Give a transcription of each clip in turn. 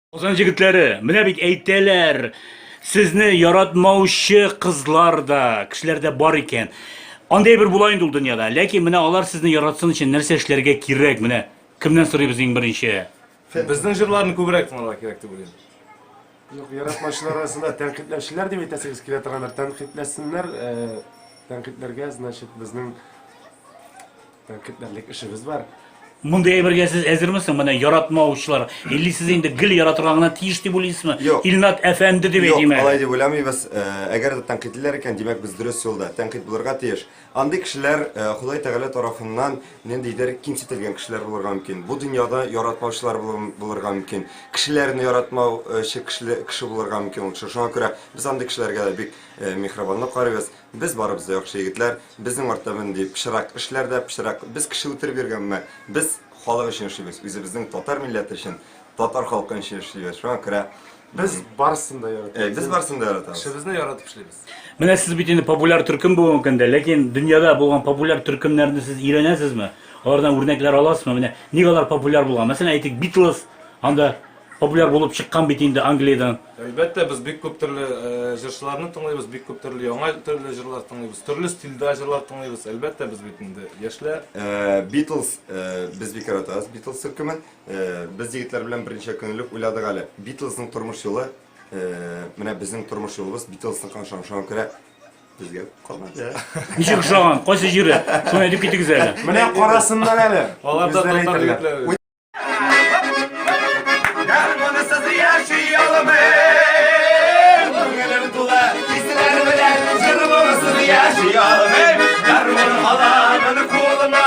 Казан җегетләре, менә бит әйтәләр, сезне яратмаучы кызлар да, кешеләр дә бар икән. Андый бер була инде ул дөньяда. Ләкин менә алар сезне яратсын өчен нәрсә эшләргә кирәк? Менә кемнән сорыйбыз иң беренче? Безнең җырларны күбрәк тыңларга кирәк дип уйлыйм. Юк, яратмаучылар арасында тәнкыйтьләүчеләр дип әйтәсегез килә торгандыр. Тәнкыйтьләсеннәр, э, тәнкыйтьләргә, значит, безнең тәнкыйтьләрлек эшебез бар. Мондый әйбергә сез әзермесең? Менә яратмаучылар. Или сез инде гел яратырга гына тиеш дип уйлыйсызмы? Юк. Илнат әфәнде дип Юк, әйтим әле. алай дип уйламыйбыз. Э, Әгәр дә тәнкыйтьлиләр икән, димәк без дөрес юлда. Тәнкыйть булырга тиеш. Андый кешеләр Ходай Тәгалә тарафыннан ниндидер кимсетелгән кешеләр булырга мөмкин. Бу дөньяда яратмаучылар булырга мөмкин. Кешеләрне яратмаучы кеше булырга мөмкин ул кеше. Шуңа күрә без андый кешеләргә дә бик миһрабанлы карыйбыз. Без барыбыз да яхшы егетләр, безнең артта мондый пычырак эшләр дә пычырак. Без кеше үтереп йөргәнме? Без халык өчен эшлибез, үзебезнең татар милләте өчен, татар халкы өчен эшлибез. Шуңа күрә без барысын да яратабыз. Без барысын да яратабыз. Кешебезне яратып эшлибез. Менә сез бит инде популяр төркем бүгенге көндә, ләкин дөньяда булган популяр төркемнәрне сез өйрәнәсезме? Алардан үрнәкләр аласызмы? Менә ник алар популяр булган? Мәсәлән, әйтик, Битлз, анда популяр булып чыккан бит инде Англиядән. Әлбәттә, без бик күп төрле э, җырчыларны тыңлыйбыз, бик күп төрле яңа төрле җырлар тыңлыйбыз, төрле стильдә җырлар тыңлыйбыз. Әлбәттә, без бит инде яшьләр. Э, Битлз, э, без бик яратабыз Битлз төркемен. Э, Без егетләр белән берничә көнлек уйладык әле. Битлзның тормыш юлы Менә безнең тормыш юлыбыз Битлсныка ошан ошан керә. Безгә калмады. Ничек ошаган? Кайсы җире? Шуны әйтеп китегез әле. Менә карасыннар әле. Алар да Безләр татар әйтерләр. егетләре. Уй, Гармонысыз яши алмыйм Күңелем тулы хисләр белән Җыр монысыз яши алмыйм Гармон аламын кулыма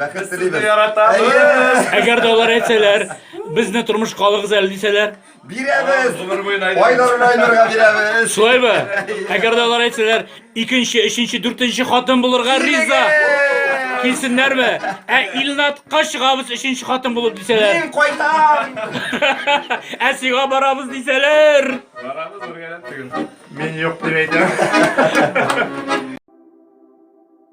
Бәхет Без сезне яратабыз. Әгәр дә алар әйтсәләр, безне тормышка алыгыз әле дисәләр. Бирәбез. Гомер буена әйдә. Айнурны Айнурга бирәбез. Шулаймы? Әгәр дә алар әйтсәләр, икенче, өченче, дүртенче хатын булырга риза. Килсеннәрме? Ә Илнатка чыгабыз өченче хатын булып дисәләр. Мин кайтам. Ә сиңа барабыз дисәләр. Барабыз үргәләп түгел. Мин юк дип әйтәм.